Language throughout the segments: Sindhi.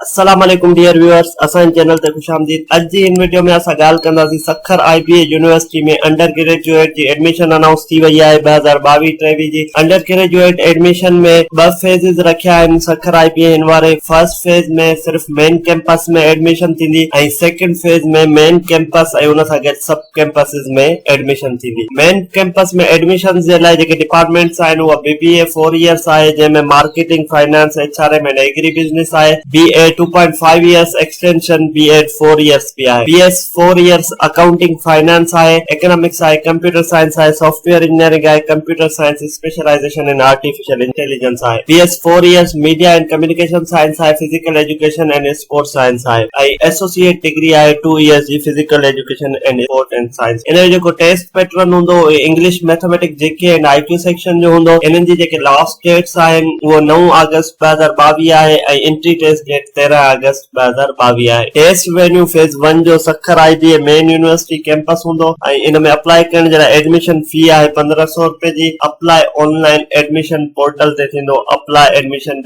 السلام عليڪم ڊيئر ويوئرس اسان جي چينل تي خوش آمديد اڄ جي ان وڊيو ۾ اسان ڳالهه ڪنداسين Sukkur I B A university ۾ undergraduate جي ايڊميشن انائونس ٿي وئي آهي ٻه هزار ٻاويهه ٽيويهه جي انڊر گريجوئيٽ ايڊميشن ۾ ٻه فيزز رکيا آهن سکر آء بي اي هن واري فرسٽ فيز ۾ صرف مين ڪيمپس ۾ ايڊميشن ٿيندي ۽ سيڪنڊ فيز ۾ مين ڪيمپس ۽ ان سان گڏ سب ڪيمپسز ۾ ايڊميشن ٿيندي. مين ڪيمپس ۾ ايڊميشنز جي لاء جيڪي ڊپارٽمينٽس آهن اها B B A four years آهي جنهن ۾ marketing, finance, H R M and agribusiness آهي. B A two point five years extension B Ed four years به آهي. B S four years accounting, finance آهي، اڪنامڪس آهي، ڪمپيوٽر سائنس آهي، سافٽ ويئر انجنيئرنگ آهي، computer science specialisation in artificial intelligence آهي. B S four years media and communication science آهي، physical education and sports science آهي ۽ ايسوسيئيٽ ڊگري آهي ٽو ايئرس جي physical education and sports and science ان جو جيڪو ٽيسٽ پيٽرن هوندو اهي English mathematics G K and I Q section جو هوندو انهن جي جيڪي لاسٽ ڊيٽس آهن اهو نو آگسٽ ٻه هزار ٻاويهه آهي ۽ انٽري ٽيسٽ ڊيٽ تيرنهن آگسٽ ٻه هزار ٻاويهه آهي ٽيسٽ وينيو فيز ون جو Sukkur I B A main university campus هوندو ۽ ان ۾ اپلاء ڪرڻ جي لاء ايڊميشن في آهي پندرهن سؤ رپين جي apply online admission portal تي ٿيندو applyadmission.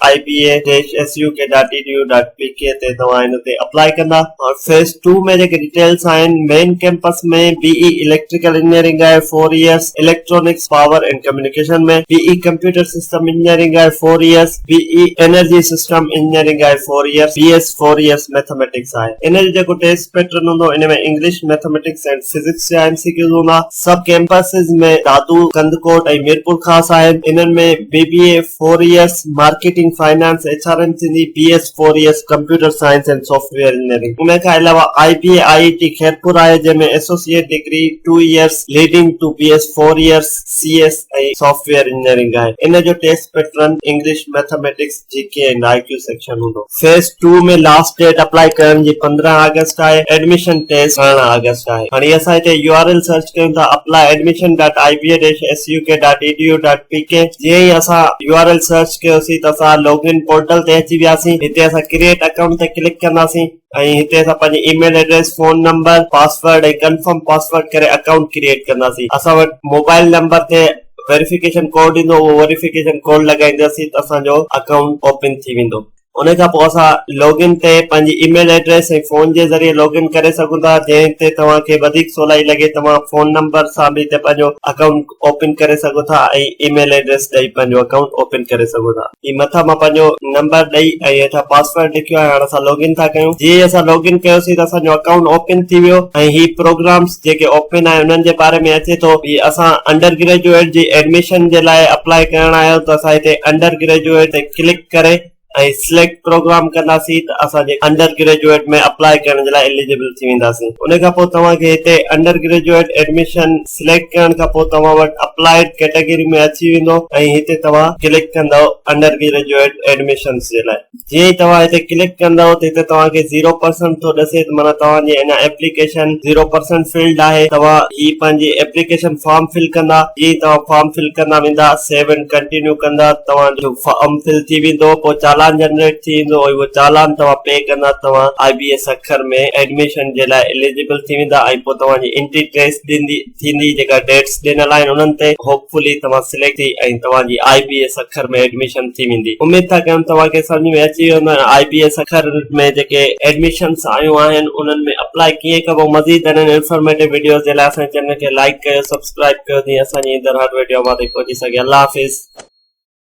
I B A dash S U K dot D D U dot P K تي توهان هن تي اپلائي ڪندا ۽ فيز ٽو ۾ جيڪي ڊيٽيلس آهن main campus ۾ B E electrical engineering آهي four years electronics power and communication ۾ B E computer system engineering آهي four years B E energy system engineering آهي four years B S four years mathematics آهي ان جو جيڪو ٽيسٽ پيٽرن هوندو ان ۾ انگلش ميٿميٽڪس اينڊ فزڪس جا ايم سي ڪيوز هوندا سب ڪيمپسز ۾ دادو، ڪنڌڪوٽ ۽ ميرپورخاص آهن. انهن ۾ B B A four years, marketing, finance, H R M Sindhi, B S four years, computer science and soft where engineering. ان کان علاوه آئي بي اي آئي آئي ٽي خيرپور آهي جنهن ۾ associate degree two years leading to B S four years, C S ۽ soft where engineering آهي. ان جو test pattern English, mathematics, G K ۽ I Q section هوندو. Phase two ۾ last date apply ڪرڻ جي پندرهن آگسٽ آهي ايڊميشن ٽيسٽ ارڙهن آگسٽ آهي هاڻي اسان هتي يو آر ايل سرچ ڪيون ٿا apply admission dot I B A dash S U K dot A D U dot P K جيئن ئي اسان يو آر ايل سرچ ڪيوسين ته اسان لوگ ان پورٽل تي اچي وياسين هتي اسان ڪريئيٽ اڪائونٽ تي ڪلڪ ڪنداسين ۽ هتي اسان پنهنجي email address, phone number, password ۽ confirm password ڪري اڪائونٽ ڪريئيٽ ڪنداسين. اسان وٽ موبائل نمبر تي ويريفڪيشن ڪوڊ ايندو اهو ويريفڪيشن ڪوڊ لڳائينداسين ته اسان جو اڪائونٽ اوپن ٿي ويندو. ان کان پوء اسان لاگ ان تي پنهنجي اي ميل ايڊريس ۽ فون جي ذريعي لاگ ان ڪري سگهون ٿا جنهن تي توهان کي وڌيڪ سولائي لڳي توهان فون نمبر سان به هتي پنهنجو اڪائونٽ اوپن ڪري سگهو ٿا ۽ اي ميل ايڊريس ڏئي پنهنجو اڪائونٽ اوپن ڪري سگهو ٿا هي مٿان مان پنهنجو نمبر ڏئي ۽ هيٺان پاسورڊ لکيو آهي هاڻ اسان لاگ ان ٿا ڪيون جي اسان لاگ ان ڪيوسين ته اسان جو اڪائونٽ اوپن ٿي ويو ۽ هي پروگرامز جيڪي اوپن آهن انهن جي باري ۾ اچي ٿو هي اسان انڊر گريجوئيٽ جي ايڊميشن جي لاء اپلائي ڪرڻ آيو ته اسان هتي انڊر گريجوئيٽ تي ڪلڪ ڪري ۽ سليڪٽ پروگرام ڪنداسين ته اسان جي انڊر گريجوئيٽ ۾ اپلاء ڪرڻ جي لاء اليجبل ٿي وينداسين ان کان پوء توهان کي هتي انڊر گريجوئيٽ ايڊميشن سليڪٽ ڪرڻ کان پوء توهان وٽ اپلائيڊ ڪيٽيگري ۾ اچي ويندو ۽ هتي توهان ڪلڪ ڪندؤ انڊر گريجوئيٽ ايڊميشنس جي لاء جيئن ئي توهان هتي ڪلڪ ڪندؤ ته هتي توهان کي زيرو پرسنٽ ٿو ڏسي ته معنيٰ توهان جي اڃا ايپليڪيشن زيرو پرسنٽ فلڊ آهي توهان هي پنهنجي ايپليڪيشن فارم فل ڪندا جيئن ئي توهان فارم فل ڪندا ويندا سيو اينڊ ڪنٽينيو ڪندا توهان جو فارم فل ٿي ويندو پوء چالان جنريٽ ٿي ويندو ۽ اهو چالان توهان پي ڪندا توهان آء بي ايس اکر ۾ ايڊميشن جي لاء اليجبل ٿي ويندا ۽ پوء توهان جي انٽري ٽريس ڏيندي ٿيندي جيڪا ڊيٽس ڏنل آهن انهن تي هوپ فلي توهان سليڪٽ ٿي ۽ توهان جي آء بي ايس اکر ۾ ايڊميشن ٿي ويندي اميد ٿا ڪيون توهان کي سمجهه ۾ اچي ويو هوندو آء بي ايس اکر ۾ جيڪي ايڊميشنس آيون آهن انهن ۾ اپلائي ڪيئن ڪبو مزيد اهڙين انفارميٽو وڊيوز جي لاء اسان جي چينل کي لائيڪ ڪيو سبسڪرائيب ڪيو جيئن اسان جي ايندڙ هر وڊيو اوهان تائين پهچي سگهي الله حافظ.